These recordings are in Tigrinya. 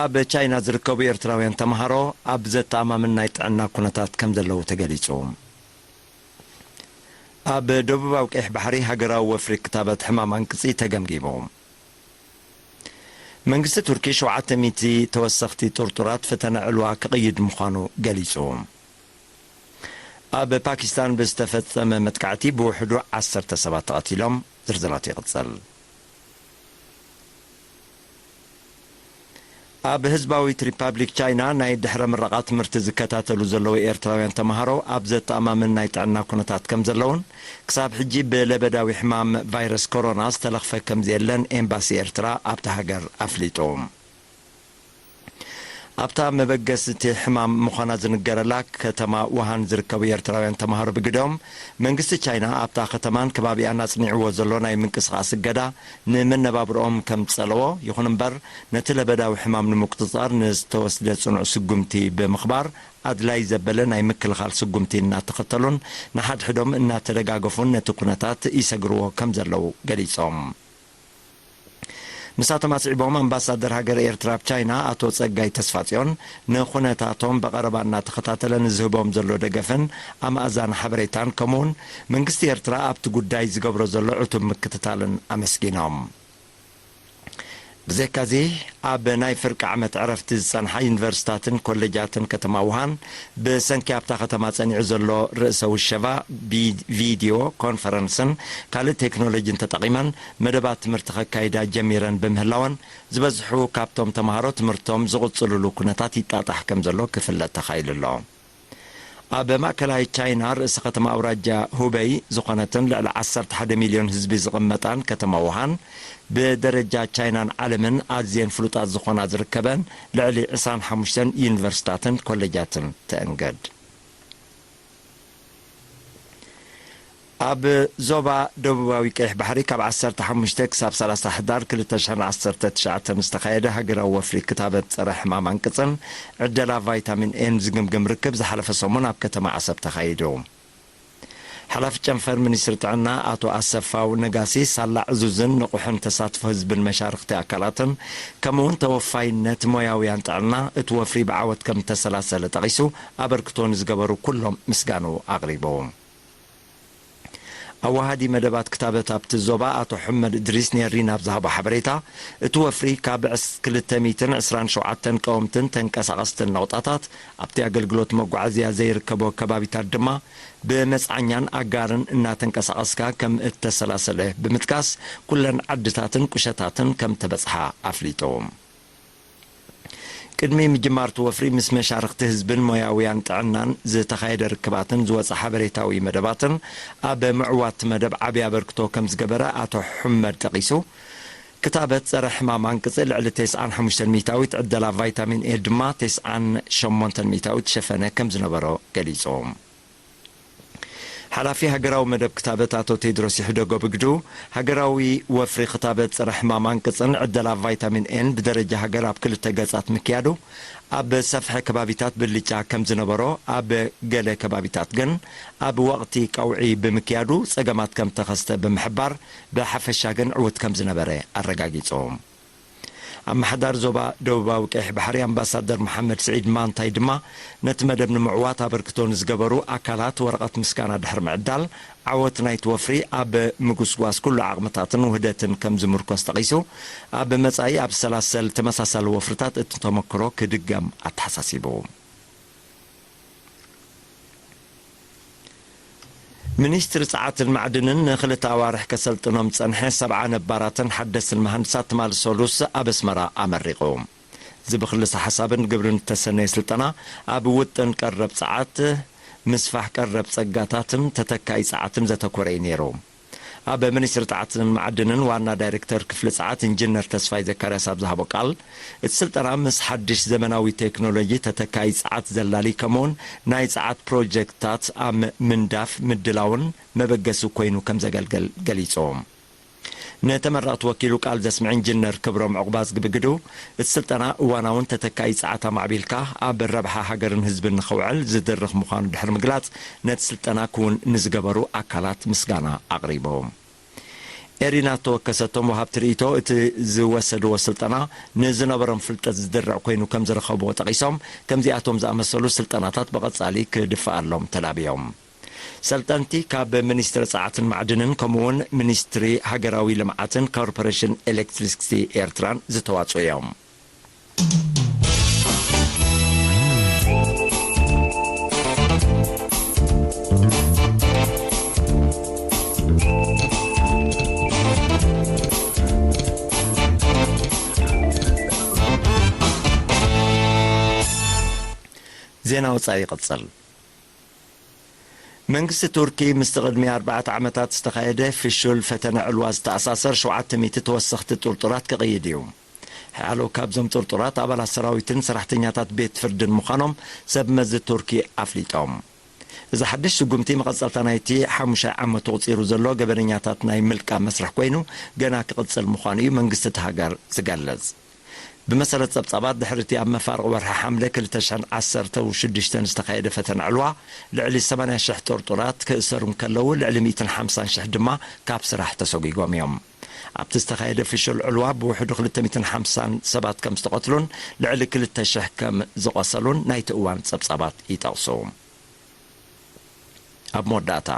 ኣብ ቻይና ዝርከቡ ኤርትራውያን ተምሃሮ ኣብ ዘተኣማምን ናይ ጥዕና ኩነታት ከምዘለዉ ተገሊጹ። ኣብ ደቡባዊ ቀይሕ ባሕሪ ሃገራዊ ወፍሪ ክታበት ሕማም ኣንቅጺ ተገምጊሙ። መንግስቲ ቱርኪ ሸውዓተ ሚእቲ ተወሰኽቲ ጥርጡራት ፈተነ ዕልዋ ክቕይድ ምዃኑ ገሊጹ። ኣብ ፓኪስታን ብዝተፈጸመ መጥቃዕቲ ብውሕዱ ዓሰርተ ሰባት ተቐቲሎም። ዝርዝራት ይቕጽል። ኣብ ህዝባዊት ሪፓብሊክ ቻይና ናይ ድሕረ-ምረቓ ትምህርቲ ዝከታተሉ ዘለዉ ኤርትራውያን ተመሃሮ ኣብ ዘተኣማምን ናይ ጥዕና ኩነታት ከምዘለዉን ክሳብ ሕጂ ብለበዳዊ ሕማም ቫይረስ ኮሮና ዝተለኽፈ ከምዘየለን ኤምባሲ ኤርትራ ኣብታ ሃገር ኣፍሊጡ። ኣብታ መበገሲ'ቲ ሕማም ምዃና ዝንገረላ ከተማ ውሃን ዝርከቡ ኤርትራውያን ተማሃሮ ብግደኦም፣ መንግስቲ ቻይና ኣብታ ከተማን ከባቢኣን ኣጽኒዕዎ ዘሎ ናይ ምንቅስቓስ እገዳ ንመነባብሮኦም ከምዝጸለዎ፣ ይኹን'ምበር ነቲ ለበዳዊ ሕማም ንምቁጽጻር ንዝተወስደ ጽኑዕ ስጉምቲ ብምኽባር ኣድላይ ዘበለ ናይ ምክልኻል ስጉምቲ እናተኸተሉን ንሓድሕዶም እናተደጋገፉን ነቲ ኩነታት ይሰግርዎ ከምዘለዉ ገሊጾም። ንሳቶም ኣስዒቦም ኣምባሳደር ሃገረ ኤርትራ ኣብ ቻይና ኣቶ ጸጋይ ተስፋጽዮን ንኩነታቶም ብቐረባ እናተኸታተለ ንዝህቦም ዘሎ ደገፍን ኣማእዛኒ ሓበሬታን ከምኡ'ውን መንግስቲ ኤርትራ ኣብቲ ጉዳይ ዝገብሮ ዘሎ ዕቱብ ምክትታልን ኣመስጊኖም። ብዘይካ'ዚ ኣብ ናይ ፍርቂ ዓመት ዕረፍቲ ዝጸንሓ ዩኒቨርሲታትን ኮሌጃትን ከተማ ውሃን ብሰንኪ ኣብታ ከተማ ጸኒዑ ዘሎ ርእሰ ውሸባ፣ ብቪድዮ ኮንፈረንስን ካልእ ቴክኖሎጂን ተጠቒመን መደባት ትምህርቲ ከካይዳ ጀሚረን ብምህላወን፣ ዝበዝሑ ካብቶም ተመሃሮ ትምህርቶም ዝቕጽሉሉ ኩነታት ይጣጣሕ ከምዘሎ ክፍለጥ ተኻኢሉ ኣሎ። ኣብ ማእከላይ ቻይና ርእሲ ከተማ ኣውራጃ ሁበይ ዝኾነትን ልዕሊ ዓሰርተ ሓደ ሚልዮን ህዝቢ ዝቕመጣን ከተማ ውሃን፣ ብደረጃ ቻይናን ዓለምን ኣዝየን ፍሉጣት ዝኾና ዝርከበን፣ ልዕሊ ዕስራን ሓሙሽተን ዩኒቨርሲታትን ኮለጃትን ተእንግድ። ኣብ ዞባ ደቡባዊ ቀይሕ ባሕሪ ካብ ዓሰርተ ሓሙሽተ ክሳብ ሰላሳ ሕዳር ክልተ ሽሕን ዓሰርተ ትሽዓተ ንዝተኻየደ ሃገራዊ ወፍሪ ክታበት ፀረ ሕማም ኣንቅፅን ዕደላ ቫይታሚን ኤን ዝግምግም ርክብ ዝሓለፈ ሰሙን ኣብ ከተማ ዓሰብ ተኻይዱ። ሓላፊ ጨንፈር ሚኒስትሪ ጥዕና ኣቶ ኣሰፋው ነጋሲ፣ ሳላ ዕዙዝን ንቑሕን ተሳትፎ ህዝብን መሻርኽቲ ኣካላትን ከምኡ እውን ተወፋይነት ሞያውያን ጥዕና እቲ ወፍሪ ብዓወት ከም እተሰላሰለ ጠቒሱ፣ ኣበርክቶ ንዝገበሩ ኩሎም ምስጋንኡ ኣቕሪቡ። ኣወሃዲ መደባት ክታበት ኣብቲ ዞባ ኣቶ ሑመድ እድሪስ ንኤሪና ኣብ ዝሃቦ ሓበሬታ፣ እቲ ወፍሪ ካብ ክልተ ሚእትን ዕስራን ሸውዓተን ቀወምትን ተንቀሳቐስትን ነቑጣታት፣ ኣብቲ ኣገልግሎት መጓዓዝያ ዘይርከቦ ከባቢታት ድማ ብመጽዓኛን ኣጋርን እናተንቀሳቐስካ ከም እተሰላሰለ ብምጥቃስ፣ ኩለን ዓድታትን ቁሸታትን ከም እተበጽሓ ኣፍሊጡ። ቅድሚ ምጅማር'ቲ ወፍሪ ምስ መሻርኽቲ ህዝብን ሞያውያን ጥዕናን ዝተኻየደ ርክባትን ዝወጸ ሓበሬታዊ መደባትን ኣብ ምዕዋት'ቲ መደብ ዓቢ ኣበርክቶ ከም ዝገበረ ኣቶ ሑመድ ጠቒሱ፣ ክታበት ጸረ ሕማም ኣንቅጺ ልዕሊ ተስዓን ሓሙሽተን ሚእታዊት ዕደላ ቫይታሚን ኤ ድማ ተስዓን ሸሞንተን ሚእታዊት ሸፈነ ከም ዝነበሮ ገሊጹ። ሓላፊ ሃገራዊ መደብ ክታበት ኣቶ ቴድሮስ ይሕደጎ ብግዱ፣ ሃገራዊ ወፍሪ ክታበት ጸረ ሕማም ኣንቅጽን ዕደላ ቫይታሚን ኤን ብደረጃ ሃገር ኣብ ክልተ ገጻት ምክያዱ ኣብ ሰፍሐ ከባቢታት ብልጫ ከም ዝነበሮ ኣብ ገለ ከባቢታት ግን ኣብ ወቕቲ ቀውዒ ብምክያዱ ጸገማት ከም ተኸስተ ብምሕባር ብሓፈሻ ግን ዕዉት ከምዝነበረ ኣረጋጊጾም። ኣመሓዳሪ ዞባ ደቡባዊ ቀይሕ ባሕሪ ኣምባሳደር መሓመድ ስዒድ ማንታይ ድማ ነቲ መደብ ንምዕዋት ኣበርክቶ ንዝገበሩ ኣካላት ወረቐት ምስጋና ድሕሪ ምዕዳል፣ ዓወት ናይቲ ወፍሪ ኣብ ምጉስጓስ ኩሉ ዓቕምታትን ውህደትን ከምዝምርኮስ ጠቒሱ፣ ኣብ መጻኢ ኣብ ሰላሰል ተመሳሳሊ ወፍርታት እቲ ተመክሮ ክድገም ኣተሓሳሲቡ። ሚኒስትሪ ጸዓትን ማዕድንን ንክልተ ኣዋርሕ ከሰልጥኖም ዝጸንሐ ሰብዓ ነባራትን ሓደስትን መሃንድሳት ትማሊ ሰሉስ ኣብ ኣስመራ ኣመሪቑ። እዚ ብክልሰ ሓሳብን ግብርን ዝተሰነየ ስልጠና ኣብ ውጥን ቀረብ ጸዓት፣ ምስፋሕ ቀረብ ጸጋታትን ተተካኢ ጸዓትን ዘተኮረ እዩ ነይሩ። ኣብ ሚኒስትሪ ጸዓትን መዓድንን ዋና ዳይሬክተር ክፍሊ ጸዓት ኢንጂነር ተስፋይ ዘካርያስ ኣብ ዝሃቦ ቃል፣ እቲ ስልጠና ምስ ሓድሽ ዘመናዊ ቴክኖሎጂ ተተካዪ ጸዓት ዘላሊ ከምኡ'ውን ናይ ጸዓት ፕሮጀክትታት ኣብ ምንዳፍ ምድላውን መበገሲ ኮይኑ ከምዘገልግል ገሊጹ። ንተመረቕቲ ወኪሉ ቃል ዘስምዐ ኢንጂነር ክብሮም ዑቕባዝጊ ብግዱ፣ እቲ ስልጠና እዋናውን ተተካኢ ጸዓት ኣማዕቢልካ ኣብ ረብሓ ሃገርን ህዝብን ንኸውዕል ዝድርኽ ምዃኑ ድሕሪ ምግላጽ፣ ነቲ ስልጠና ክውን ንዝገበሩ ኣካላት ምስጋና ኣቕሪቦም። ኤሪና ዝተወከሰቶም ወሃብቲ ርእይቶ እቲ ዝወሰድዎ ስልጠና ንዝነበሮም ፍልጠት ዝድርዕ ኮይኑ ከምዝረኸብዎ ጠቒሶም፣ ከምዚኣቶም ዝኣመሰሉ ስልጠናታት ብቐጻሊ ክድፈኣሎም ተላብዮም። ሰልጠንቲ ካብ ሚኒስትሪ ጸዓትን ማዕድንን ከምኡ'ውን ሚኒስትሪ ሃገራዊ ልምዓትን ኮርፖሬሽን ኤሌክትሪክሲቲ ኤርትራን ዝተዋጽኡ እዮም። ዜና ወጻኢ ይቕጽል። መንግስቲ ቱርኪ ምስቲ ቅድሚ ኣርባዕተ ዓመታት ዝተኻየደ ፍሹል ፈተነ ዕልዋ ዝተኣሳሰር ሸውዓተ ሚእቲ ተወሰኽቲ ጥርጡራት ክቕይድ እዩ። ሕያሎ ካብዞም ጥርጡራት ኣባላት ሰራዊትን ሰራሕተኛታት ቤት ፍርድን ምዃኖም ሰብ መዚ ቱርኪ ኣፍሊጦም። እዚ ሓድሽ ስጉምቲ መቐጸልታ ናይቲ ሓሙሻይ ዓመቱ ኣቑጺሩ ዘሎ ገበነኛታት ናይ ምልቃም መስርሕ ኮይኑ ገና ክቕጽል ምዃኑ እዩ መንግስቲ እታ ሃገር ዝገልጽ። ብመሰረት ጸብጻባት፣ ድሕሪ'ቲ ኣብ መፋርቕ ወርሒ ሓምለ ክልተ ሽሕን ዓሰርተ ሽዱሽተን ዝተኻየደ ፈተነ ዕልዋ፣ ልዕሊ ሰማንያ ሽሕ ጥርጡራት ክእሰሩ እንከለዉ፣ ልዕሊ ሚእትን ሓምሳን ሽሕ ድማ ካብ ስራሕ ተሰጒጎም እዮም። ኣብቲ ዝተኻየደ ፍሹል ዕልዋ ብውሕዱ ክልተ ሚእትን ሓምሳን ሰባት ከም ዝተቐትሉን ልዕሊ ክልተ ሽሕ ከም ዝቖሰሉን ናይቲ እዋን ጸብጻባት ይጠቕሱ። ኣብ መወዳእታ።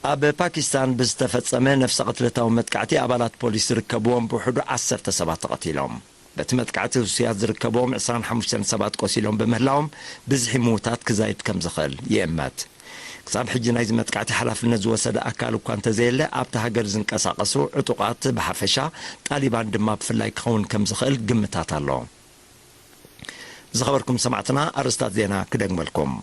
ኣብ ፓኪስታን ብዝተፈጸመ ነፍሰ ቅትለታዊ መጥቃዕቲ ኣባላት ፖሊስ ዝርከብዎም ብውሕዱ ዓሰርተ ሰባት ተቐቲሎም። በቲ መጥቃዕቲ ህሱያት ዝርከብዎም ዕስራን ሓሙሽተን ሰባት ቆሲሎም ብምህላዎም ብዝሒ ምዉታት ክዛይድ ከም ዝኽእል ይእመት። ክሳብ ሕጂ ናይዚ መጥቃዕቲ ሓላፍነት ዝወሰደ ኣካል እኳ እንተዘየለ ኣብታ ሃገር ዝንቀሳቐሱ ዕጡቓት ብሓፈሻ ጣሊባን ድማ ብፍላይ ክኸውን ከም ዝኽእል ግምታት ኣሎ። ዝኸበርኩም ሰማዕትና ኣርእስታት ዜና ክደግመልኩም።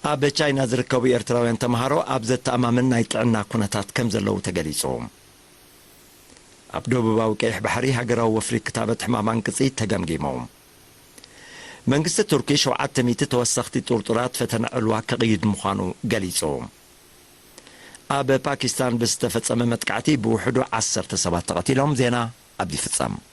ኣብ ቻይና ዝርከቡ ኤርትራውያን ተምሃሮ ኣብ ዘተኣማምን ናይ ጥዕና ኩነታት ከምዘለዉ ተገሊጹ። ኣብ ደቡባዊ ቀይሕ ባሕሪ ሃገራዊ ወፍሪ ክታበት ሕማም ኣንቅጺ ተገምጊሙ። መንግስቲ ቱርኪ ሸውዓተ ሚእቲ ተወሰኽቲ ጥርጡራት ፈተነ ዕልዋ ከቕይድ ምዃኑ ገሊጹ። ኣብ ፓኪስታን ብዝተፈጸመ መጥቃዕቲ ብውሕዱ ዓሰርተ ሰባት ተቐቲሎም። ዜና ኣብዚ ይፍጸም።